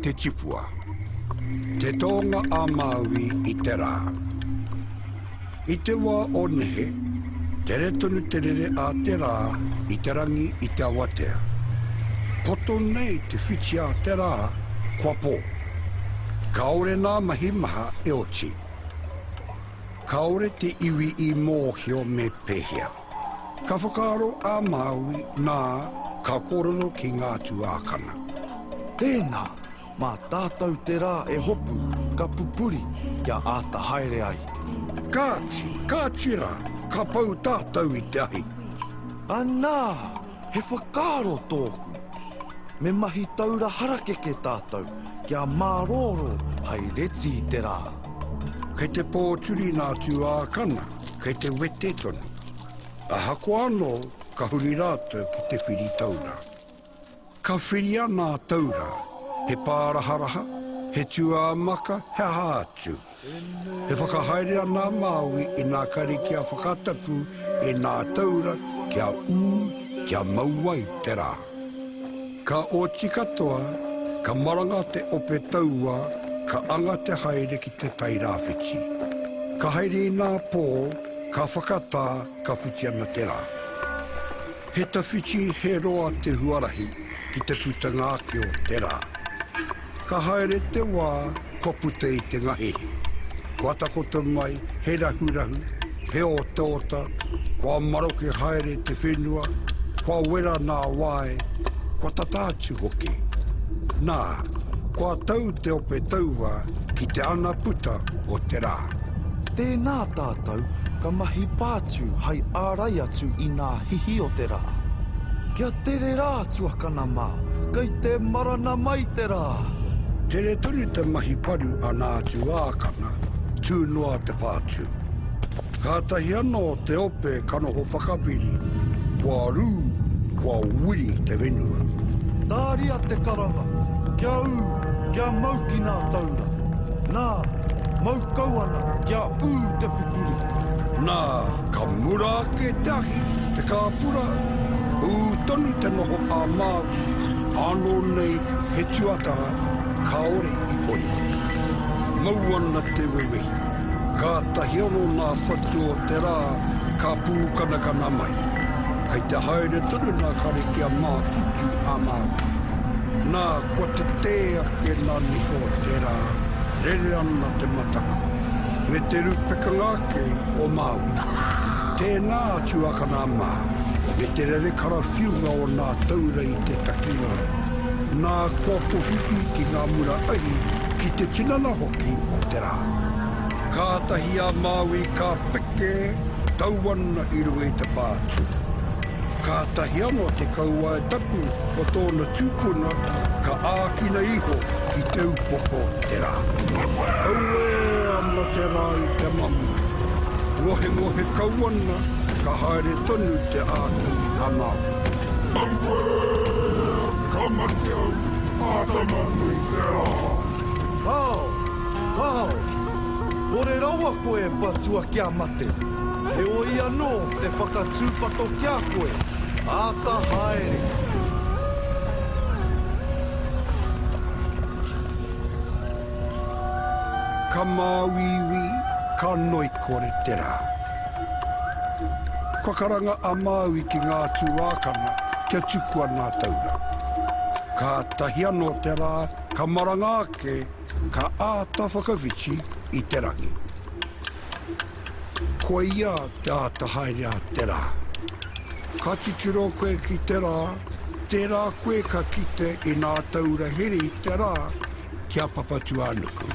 Te Tipua. Te Tōnga a Māui i te rā. I te wā o nehe, tere tonu te rere a te rā i te rangi i te awatea. Poto nei te whiti a te rā, kua pō. Kāore nā mahi maha e oti. Kāore te iwi i mōhio me pēhea. Ka whakaaro a Māui, nā, ka kōrero ki ngā tuākana. Tēnā, mā tātou te rā e hopu, ka pupuri kia āta haere ai. Kāti, kāti rā, ka pau tātou i te ahi. Anā, he whakaaro tōku. Me mahi taura harakeke tātou kia mārōrō hai reti i te rā. Kei te pōturi ngā tuākana. Kei te wete tonu. Ahakoa anō, ka huri rātou ki te whiri taura. Ka whiri ana a Taura, he pāraharaha, he tūāmaka, he aha atu. E whakahaere ana a Māui inā kare kia whakatapu e nā Taura kia ū, kia mau ai te rā. Ka oti katoa, ka maranga te ope taua ka anga te haere ki te tai rāwhiti. Ka haere inā pō, ka whakatā, ka whiti ana te rā. He tawhiti, he roa te huarahi ki te putanga ake o te rā. Ka haere te wā, kua puta i te ngahere. Kua takoto mai he rahurahu, he otaota, kua maroke haere te whenua, kua wera nā wae, kua tata atu hoki. Nā, kua tau te ope taua ki te ana puta o te rā. Tēnā tātou ka mahi pātū hai ārai atu inā hihi o te rā. Kia tere rā tuakana! Nama, kei te marana mai te rā! Tere tonu te mahi paru a nā tuākana, tū noa te pātū. Kātahi anō te ope ka noho whakapiri, kua rū, kua wiri te whenua. Tāria te karanga, kia ū, kia mau ki nā taura. Nā, mau. Kau ana kia ū te pupuri. Nā, ka mura ake te ahi, te kāpura, ū tonu te noho ā-Māori, ānō nei he tuatara kāore i kore. Mau ana te wewehi, kātahi anō nā whatu o te rā ka pūkanakana mai. Kei te haere tonu nā Kare ki a Mākutu ā-Māori. Nā, Kua tetē ake nā Niho tērā, rere ana te mataku, me te rūpekanga ake o Māui. Tēnā a Tuakana mā, me te rere karawhiunga o nā taura i te takiwā. Nā, kua powhiwhi ki ngā mura ahi, ki te tinana hoki o te rā. Kātahi a Māui ka peke, tau ana i runga i te pā tū. Kātahi anō te kauae tapu o tōna tūpuna ka ākina iho ki te upoko o te rā. Auē ana te rā i te mamae. Ngohengohe kau ana, ka haere tonu te āki a Māui. Auē! Ka mate au, āta manu i te rā! Kāo! Kāo! Kore rawa koe e patua kia mate! Heoi anō, te whakatūpato ki a koe. Āta haere! Ka māuiui, ka ngoikore te rā. Kua karanga a Māui ki ngā tuākana kia tukua ngā taura. Kātahi anō te rā ka maranga ake, ka āta whakawhiti i te rangi. Koia te āta haere a te rā. Ka titiro koe ki te rā, tērā koe ka kite inā taura hiri te rā ki a Papatūānuku.